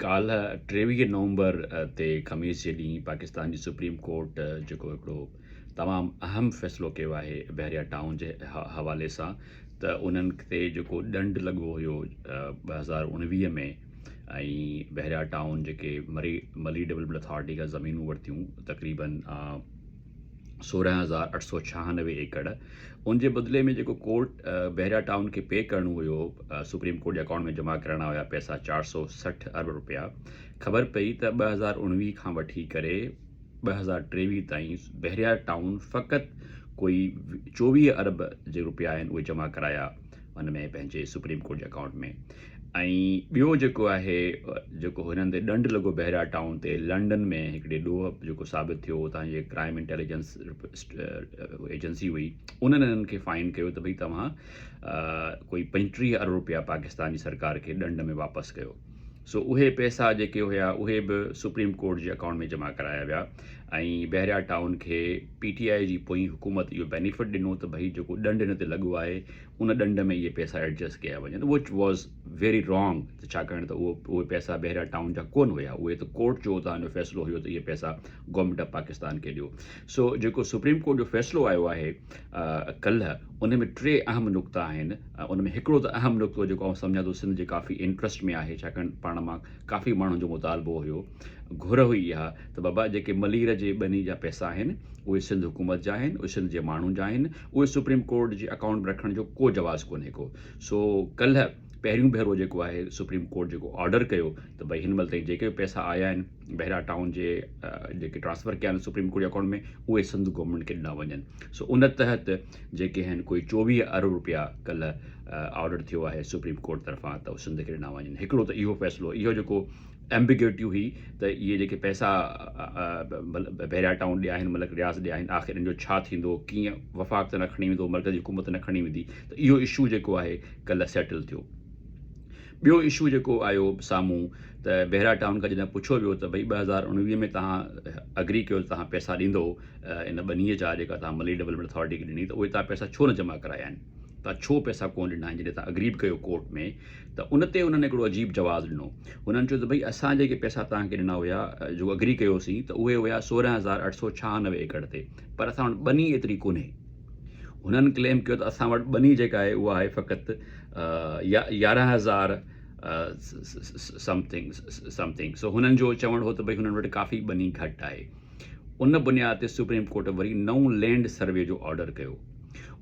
ڪالهه ٽيويهه نومبر تي خميس جي ڏينهن پاڪستان جي سپريم ڪورٽ جيڪو هڪڙو تمام اهم فيصلو ڪيو آهي بحريا ٽائون جي حوالي سان ته انهن تي جيڪو ڏنڊ لڳو هيو ٻه هزار اڻويهه ۾ ۽ بحريا ٽائون جيڪي مري ملي ڊولپمنٽ اٿارٽي کان زمينون ورتيون تقريبن سورهن هزار اٺ سؤ ڇهانوي ايڪڙ ان جي بدلي ۾ جيڪو ڪورٽ بحريا ٽائون کي پي ڪرڻو هيو سپريم ڪورٽ جي اڪائونٽ ۾ جمع ڪرائڻا هيا پئسا چار سؤ سٺ ارب روپيا خبر پئي ته ٻه هزار اڻويهه کان وٺي ڪري ٻه هزار ٽيويهه تائين بحريا ٽائون فقط ڪوئي چوويهه ارب جي روپيا آهن اهي جمع ڪرايا ان ۾ پنهنجي سپريم ڪورٽ جي اڪائونٽ ۾ ۽ ٻيو جيڪو آهي جيڪو هنن تي ڏنڊ لڳو بحريا ٽائون تي لنڊن ۾ هڪڙي ڏوهه جيڪو ثابت ٿيو اتان جي ڪرائيم انٽيليجنس ايجنسي هئي انهن هنن کي فائن ڪيو ته ڀئي توهان ڪوئي پنجٽيهه ارب روپيا پاڪستان جي سرڪار کي ڏنڊ ۾ واپس ڪيو سو اهي پئسا جيڪي هيا اهي به سپريم ڪورٽ جي اڪائونٽ ۾ جمع ڪرايا ويا ۽ بحريا ٽائون کي پي ٽي آء جي پوئين حڪومت اهو بينيفٽ ڏنو ته ڀئي جيڪو ڏنڊ هن تي لڳو آهي ان ڏنڊ ۾ اهي پئسا ايڊجسٽ ڪيا وڃن وچ واز ويري رانگ ته ڇاڪاڻ ته اهو اهي پئسا بحريا ٽائون جا ڪونه هيا اهي ته ڪورٽ جو اتان جو فيصلو هيو ته اهي پئسا گورنمينٽ آف پاڪستان کي ڏيو سو جيڪو سپريم ڪورٽ جو فيصلو آيو آهي ڪلهه ان ۾ ٽي اهم نقطا آهن ان ۾ هڪڙو ته اهم نقطو جيڪو آئون سمجهان ٿو سنڌ جي ڪافي انٽرسٽ ۾ آهي ڇاڪاڻ پاڻ مان ڪافي ماڻهن جو مطالبو هيو گهر هئي اها ته بابا جيڪي ملير جي ٻني جا پئسا آهن اهي سنڌ حڪومت جا آهن اهي سنڌ جي ماڻهن جا آهن اهي سپريم ڪورٽ جي اڪائونٽ ۾ رکڻ جو ڪو جواز ڪونهي ڪو سو ڪلهه پهريون ڀيرو جيڪو آهي سپريم ڪورٽ جيڪو آرڊر ڪيو ته ڀئي هن مهل تائين جيڪي به پئسا آيا آهن بهرا ٽائون جي جيڪي ٽرانسفر ڪيا آهن سپريم ڪورٽ جي اڪائونٽ ۾ اهي سنڌ گورنمينٽ کي ڏنا وڃن سو ان تحت جيڪي آهن ڪوئي چوويهه ارب روپيا ڪلهه آرڊر ٿيو آهي سپريم ڪورٽ طرفان ته سنڌ کي ڏنا وڃن هڪڙو ته اهو فيصلو اهو جيڪو Ambiguity هئي ته اهي جيڪي پئسا بحريا ٽائون ڏي آهن ملڪ رياض ڏي آهن آخر ان جو ڇا ٿيندو ڪيئن وفاق ته نه کڻي ويندو مرڪزي حڪومت ته نه کڻي ويندي ته اهو اشو جيڪو آهي ڪلهه سيٽل ٿيو ٻيو اشو جيڪو آيو سامهون ته بحريا ٽائون کان جڏهن پڇيو ويو ته ڀئي ٻه هزار اڻويهه ۾ تهان اگري ڪيو ته تهان پئسا ڏيندو ان ٻنيء جا جيڪا تهان ملي ڊولپمينٽ اٿارٽي کي ڏني ته اهي تهان پئسا ڇو نه جمع ڪرايا آهن تهان ڇو پئسا ڪونه ڏنا آهن جڏهن تهان اگري به ڪيو ڪورٽ ۾ ته ان تي انهن هڪڙو عجيب جواز ڏنو. هنن چيو ته ڀئي اسان جيڪي پئسا توهان کي ڏنا هيا جيڪو اگري ڪيو سين ته اهي هيا سورهن هزار اٺ سؤ ڇهانوي ايڪڙ تي پر اسان وٽ ٻني ايتري ڪونهي. هنن ڪليم ڪيو ته اسان وٽ ٻني جيڪا آهي اها آهي فقط يارهن هزار something something so هنن جو چوڻ هو ته ڀئي هنن وٽ ڪافي ٻني گهٽ آهي. ان بنياد تي سپريم ڪورٽ وري نئون لينڊ سروي جو آرڊر ڪيو.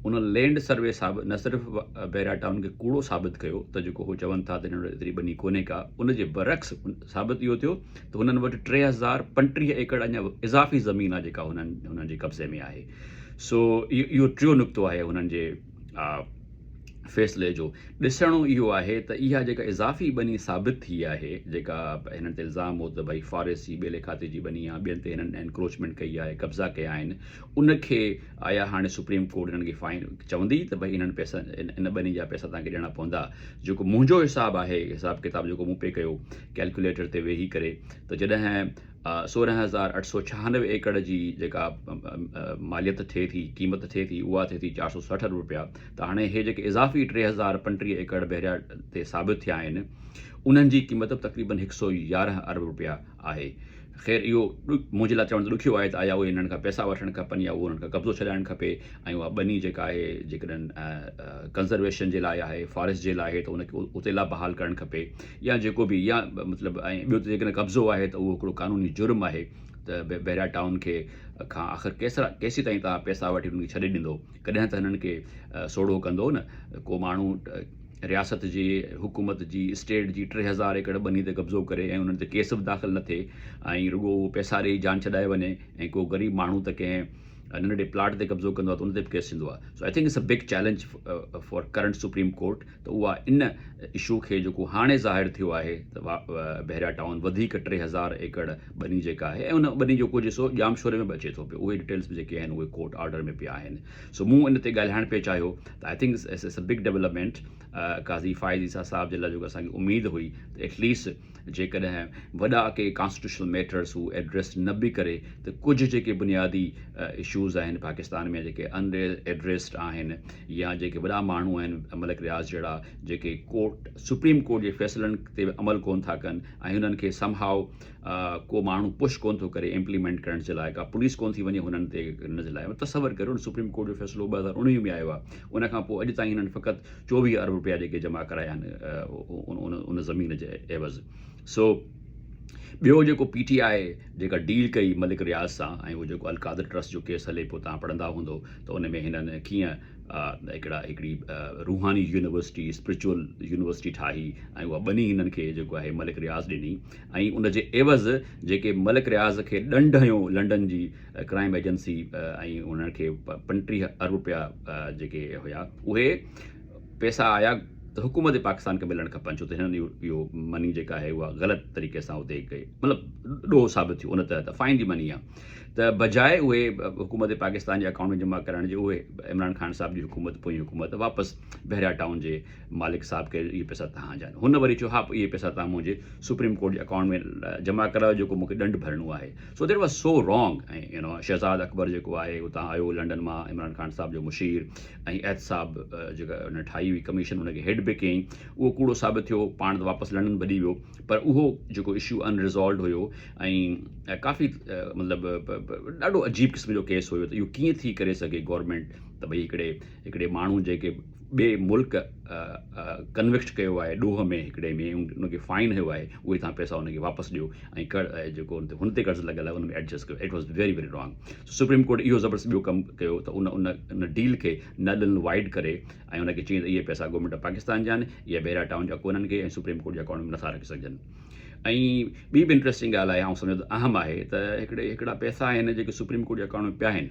ان لينڊ سروي صاحب نه صرف بحريا ٽائون کي ڪوڙو ثابت ڪيو ته جيڪو هو چون ٿا ته هن وٽ ايتري ٻني ڪونهي ڪا، ان جي برعڪس ثابت اهو ٿيو ته هنن وٽ ٽي هزار پنٽيهه ايڪڙ اڃا اضافي زمين آهي جيڪا هنن جي قبضي ۾ آهي. سو اهو ٽيون نقطو آهي هنن جي. فيصلي جو ڏسڻو اهو آهي ته اها جيڪا اضافي ٻني ثابت ٿي آهي جيڪا هنن تي الزام هو ته ڀئي فاريس جي ٻيلي کاتي جي ٻني آهي ٻين تي هنن انڪروچمينٽ ڪئي آهي قبضا ڪيا آهن ان کي آيا هاڻي سپريم ڪورٽ هنن کي فائن چوندي ته ڀئي هنن پيسا ان ٻني جا پيسا تان کي ڏيڻا پوندا جيڪو منهنجو حساب آهي حساب ڪتاب جيڪو مون پي ڪيو ڪيلڪوليٽر تي ويهي ڪري ته جڏهن سورهن هزار اٺ سؤ ڇهانوي ايڪڙ جي جيڪا ماليت ٿئي ٿي قيمت ٿئي ٿي اها ٿئي ٿي چار سؤ سٺ ارب رپيا ته هاڻي هي جيڪي اضافي ٽي هزار پنٽيهه ايڪڙ بحريا تي ثابت ٿيا آهن انهن جي قيمت تقريبن هڪ سؤ يارهن ارب رپيا آهي خير اهو منهنجي لاء چوڻ ته ڏکيو آهي ته آيا اهي انهن کان پئسا وٺڻ کپن يا اهو انهن کان قبضو ڇڏائڻ کپي ۽ اها ٻني جيڪا آهي جيڪڏهن ڪنزرويشن جي لاء آهي فاريسٽ جي لاء آهي ته ان کي اتي لا بحال ڪرڻ کپي يا جيڪو به يا مطلب ۽ ٻيو ته جيڪڏهن قبضو آهي ته اهو هڪڙو قانوني جرم آهي ته بحريا ٽائون کي کان آخر ڪيسرا ڪيسي تائين توهان پيسا وٺي انهن کي ڇڏي ڏيندو ڪڏهن ته هنن کي سوڙهو ڪندو نه ڪو ماڻهو رياست جي حڪومت جي اسٽيٽ جي ٽي هزار ايڪڙ ٻني تي قبضو ڪري ۽ انهن تي ڪيس به داخل نه ٿئي ۽ رڳو اهو پيسا ڏئي جان ڇڏائي وڃي ۽ ڪو غريب ماڻهو ته ڪنهن ننڍڙي پلاٽ تي قبضو ڪندو آهي ته ان تي به ڪيس ٿيندو آهي so I think it's a big challenge for current supreme court ته اها ان اشو کي جيڪو هاڻي ظاهر ٿيو آهي ته بحريا ٽائون وڌيڪ ٽي هزار ايڪڙ ٻني جيڪا آهي ۽ ان ٻني جو ڪجهه حصو ڄامشوري ۾ به اچي ٿو پيو اهي ڊيٽيلس به جيڪي آهن اهي ڪورٽ آرڊر ۾ پيا آهن سو مون ان تي ڳالهائڻ پئي چاهيو ته I think it's a big development Qazi Faez Isa صاحب جي لاء جيڪو اسانکي اميد هئي ته ايٽليسٽ جيڪڏهن وڏا ڪي ڪانسٽيٽيوشنل ميٽرز هو ايڊريس نه به ڪري ته ڪجهه جيڪي بنيادي اشوز آهن پاڪستان ۾ جيڪي ان ايڊريسڊ آهن يا جيڪي وڏا ماڻهو آهن ملڪ رياض جهڙا جيڪي ڪورٽ سپريم ڪورٽ جي فيصلن تي عمل ڪون ٿا ڪن ۽ انهن کي سم هاء ڪو ماڻهو پش ڪون ٿو ڪري امپليمينٽ ڪرڻ جي لاء ڪا پوليس ڪون ٿي وڃي هنن تي ان جي لاء تصور ڪريو سپريم ڪورٽ جو فيصلو ٻه هزار اڻويهه ۾ آيو آهي ان کان پوء اڄ تائين هنن فقط چوويهه ارب رپيا جيڪي جمع ڪرايا آهن ان زمين جي عيوض سو ٻيو جيڪو پي ٽي آء جيڪا ڊيل ڪئي ملڪ رياض سان ۽ هو جيڪو القادر ٽرسٽ جو ڪيس هلي پيو تان پڙهندا هوندو ته ان ۾ هنن ڪيئن هڪڙا هڪڙي روحاني يونيورسٽي اسپرچل يونيورسٽي ٺاهي ۽ اها ٻني هنن کي جيڪو آهي ملڪ رياض ڏني ۽ ان جي عيوض جيڪي ملڪ رياض کي ڏنڊ هنيو لنڊن جي ڪرائيم ايجنسي ۽ انهن کي پنٽيهه ارب رپيا جيڪي هيا اهي پيسا آيا ته حڪومت پاڪستان کي ملڻ کپن ڇو ته هنن اهو مني جيڪا آهي اها غلط طريقي سان اتي ڪئي مطلب ڏوهه ثابت ٿيو ان تحت فائن جي مني آهي ته بجاء اهي حڪومت پاڪستان جي اڪائونٽ ۾ جمع ڪرڻ جي اهي عمران خان صاحب جي حڪومت پوئين حڪومت واپس بحريا ٽائون جي مالڪ صاحب ڪي اهي پئسا تهان جا آهن. هن وري چيو، ها پوء اهي پئسا توهان منهنجي سپريم ڪورٽ جي اڪائونٽ ۾ جمع ڪرايو جيڪو مون کي ڏنڊ ڀرڻو آهي. So that was so wrong ۽ Shahzad Akbar جيڪو آهي اتان آيو لنڊن مان عمران خان صاحب جو مشير ۽ احتساب جيڪا ان ٺاهي هئي ڪميشن ان کي هيڊ به ڪيائين اهو ڪوڙو ثابت ٿيو پاڻ ته واپس لنڊن ڀڄي ويو پر اهو جيڪو اشو ان ريزالوڊ هيو ۽ ڪافي مطلب ڏاڍو عجيب قسم جو ڪيس هيو ته اهو ڪيئن ٿي ڪري سگهي گورنمينٽ ته ڀئي هڪڙي هڪڙي ماڻهو جيڪي ٻئي ملڪ ڪنوڪٽ ڪيو آهي ڏوهه ۾ هڪڙي ۾ ان کي فائن هيو آهي اهي تهان پيسا ان کي واپس ڏيو ۽ ڪڙ جيڪو ان تي هن تي قرض لڳل آهي ان ۾ ايڊجسٽ ڪيو it was very very wrong so supreme court اهو زبردست ٻيو ڪم ڪيو ته ان ان ان ڊيل کي نل ان وائيڊ ڪري ۽ ان کي چئي ته اهي پيسا گورنمينٽ آف پاڪستان جا آهن اهي بحيرا ٽائون جا ڪونهن کي ۽ سپريم ڪورٽ جي اڪائونٽ ۾ نٿا رکي سگهجن ۽ ٻي به انٽريسٽنگ ڳالهه آهي آئون سمجهان ٿو اهم آهي ته هڪڙي هڪڙا پيسا آهن جيڪي سپريم ڪورٽ جي اڪائونٽ ۾ پيا آهن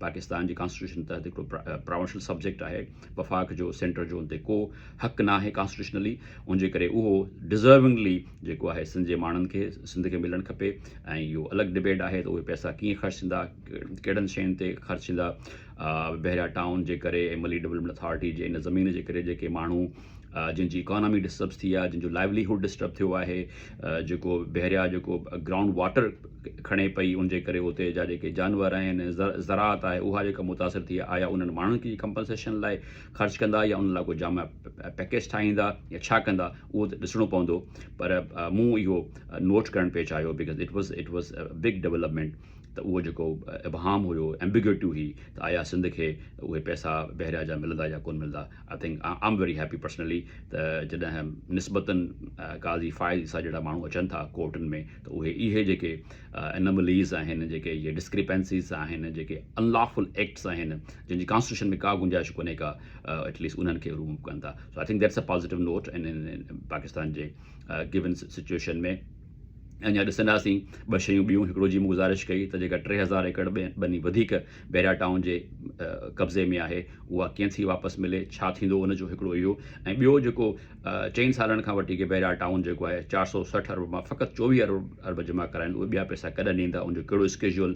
پاڪستان جي ڪانسٽيٽيوشن تحت هڪڙو پراونشل سبجيڪٽ آهي وفاق جو سينٽر جو ان تي ڪو حق نه آهي ڪانسٽيٽيوشنلي ان جي ڪري اهو ڊزرونگلي جيڪو آهي سنڌ جي ماڻهن کي سنڌ کي ملڻ کپي ۽ اهو الڳ ڊبيٽ آهي ته اهي پئسا ڪيئن خرچ ٿيندا ڪهڙن شين تي خرچ ٿيندا بحريا ٽائون جي ڪري M L A development authority جي ان زمين جي ڪري جيڪي ماڻهو جنهن جي اڪانامي ڊسٽربس ٿي آهي جنهن جو لائيولي هوڊ ڊسٽرب ٿيو آهي جيڪو بحريا جيڪو گرائونڊ واٽر کڻي پئي ان جي ڪري اتي جا جيڪي جانور آهن زراعت آهي اها جيڪا متاثر ٿي آهي آيا انهن ماڻهن کي ڪمپنسيشن لاء خرچ ڪندا يا ان لاء ڪو جامع پيڪيج ٺاهيندا يا ڇا ڪندا اهو ته ڏسڻو پوندو پر مون اهو نوٽ ڪرڻ پئي چاهيو because it was it was big development ته اهو جيڪو ابهام هيو ايمبيگيوٽي هئي ته آيا سنڌ کي اهي پئسا بحريا جا ملندا يا ڪونه ملندا I think I am very happy personally ته جڏهن نسبتاً قاضي فائز عيسيٰ جهڙا ماڻهو اچن ٿا ڪورٽن ۾ ته اهي اهي جيڪي انمليز آهن جيڪي اهي ڊسڪريپنسيز آهن جيڪي انلافل ايڪٽس آهن جن جي ڪانسٽيٽيوشن ۾ ڪا گنجائش ڪونهي ڪا ايٽ ليسٽ انهن کي رموو ڪن ٿا so I think that's a positive note in Pakistan جي گون سچويشن ۾ اڃا ڏسنداسين ٻه شيون ٻيون هڪڙو جي مون گذارش ڪئي ته جيڪا ٽي هزار ايڪڙ ٻني وڌيڪ بيرا ٽائون جي قبضي ۾ آهي اها ڪيئن ٿي واپس ملي ڇا ٿيندو ان جو هڪڙو اهو ۽ ٻيو جيڪو چئن سالن کان وٺي ڪي بيرا ٽائون جيڪو آهي چار سؤ سٺ ارب مان فقط چوويهه ارب ارب جمع ڪرايا آهن اهي ٻيا پئسا ڪڏهن ڏيندا ان جو ڪهڙو اسڪيجول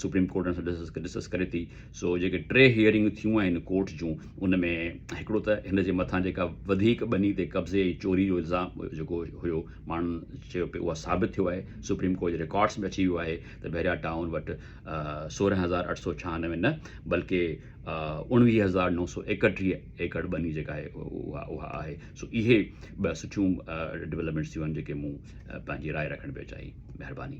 سپريم ڪورٽ ان سان ڊسس ڊسڪس ڪري ٿي سو جيڪي ٽي هيئرنگون ٿيون آهن ڪورٽ جون ان ۾ هڪڙو ته هن جي مٿان جيڪا وڌيڪ ٻني تي قبضي ۽ چوري جو الزام جيڪو هيو ماڻهن چيو پئي اها ثابت ٿيو آهي سپريم ڪورٽ جي رڪارڊس ۾ اچي ويو آهي ته بيرا ٽائون وٽ سورهن هزار اٺ سؤ ڇهانوي نه بلڪه اوڻويهه هزار نو سؤ ايڪٽيهه ايڪڙ ٻني جيڪا آهي اها اها آهي سو اهي ٻه سٺيون ڊولپمينٽس ٿيون آهن جيڪي مون پنهنجي راء رکڻ پيو چاهي مهرباني